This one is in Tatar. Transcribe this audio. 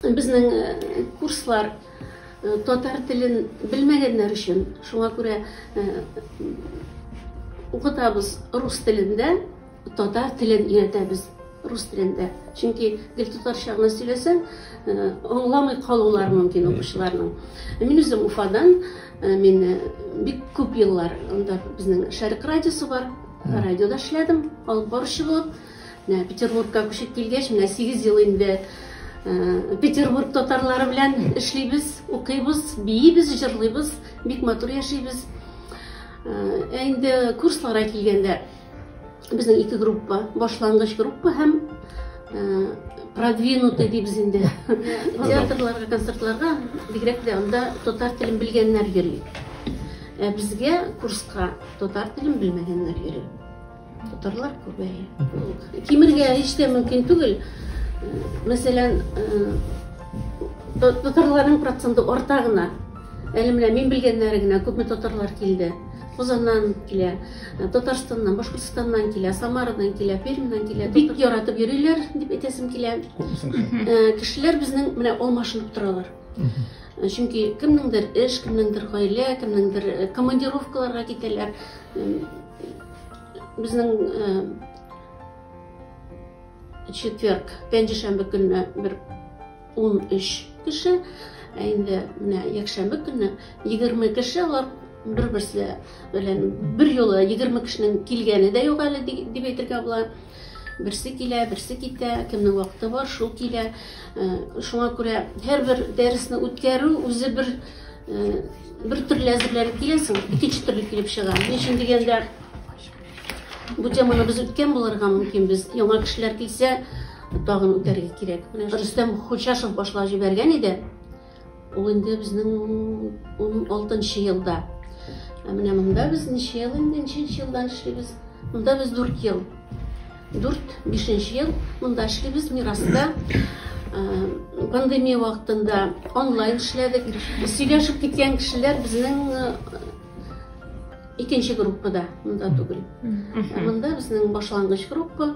Безнең курслар татар телен белмәгәннәр өчен, шуңа күрә укытабыз рус телендә, татар телен өйрәтәбез рус телендә. Чөнки гел татарча гына сөйләсәң, аңламый калулар мөмкин укучыларның. Мин үзем Уфадан, мин бик күп еллар анда безнең Шәрык радиосы бар, радиода эшләдем, алып баручы булып. Менә Петербургка күчеп килгәч, менә 8 ел инде Петербург татарлары белән эшлибез, укыйбыз, биибез, җырлыйбыз, бик матур яшибез. Ә инде курсларга килгәндә безнең ике группа, башлангыч группа һәм продвинутый дибез инде. Театрларга, концертларга бигрәк тә анда татар телен белгәннәр йөри. Ә безгә курска татар телен белмәгәннәр йөри. Татарлар күбәе. Кимергә һич тә мөмкин түгел. Мәсәлән, татарларның проценты арта гына. Әле менә мин белгәннәре генә күпме татарлар килде. Казаннан килә, Татарстаннан, Башкортостаннан килә, Самарадан килә, Пермьнан килә. Бик яратып йөриләр, дип әйтәсем килә. Кешеләр безнең менә алмашынып торалар. Чөнки кемнеңдер эш, кемнеңдер гаилә, кемнеңдер командировкаларга китәләр. Безнең четверг, пәнҗешәмбе көнне бер 13 кеше, ә инде менә якшәмбе көнне 20 кеше алар бер-берсе белән бер юлы 20 кешенең килгәне дә юк әле дип әйтергә була. Берсе килә, берсе китә, кемнең вакыты бар, шул килә. Э, шуңа күрә һәрбер дәресне үткәрү үзе бер э, бер төрле әзерләнеп киләсең, икенче төрле килеп чыга. Ни өчен дигәндә, бу теманы без үткән булырга мөмкин, без яңа кешеләр килсә, тагын үтәргә кирәк. Менә Рөстәм Хочашев башлап җибәргән иде. Ул инде безнең уналтынчы елда. Ә менә монда без ничә ел инде, ничәнче елдан эшлибез? Монда без дүрт ел. Дүрт, бишенче ел монда эшлибез Мираста. Пандемия вакытында онлайн эшләдек. Сөйләшеп киткән кешеләр безнең икенче группада, монда түгел. Монда безнең башлангыч группа.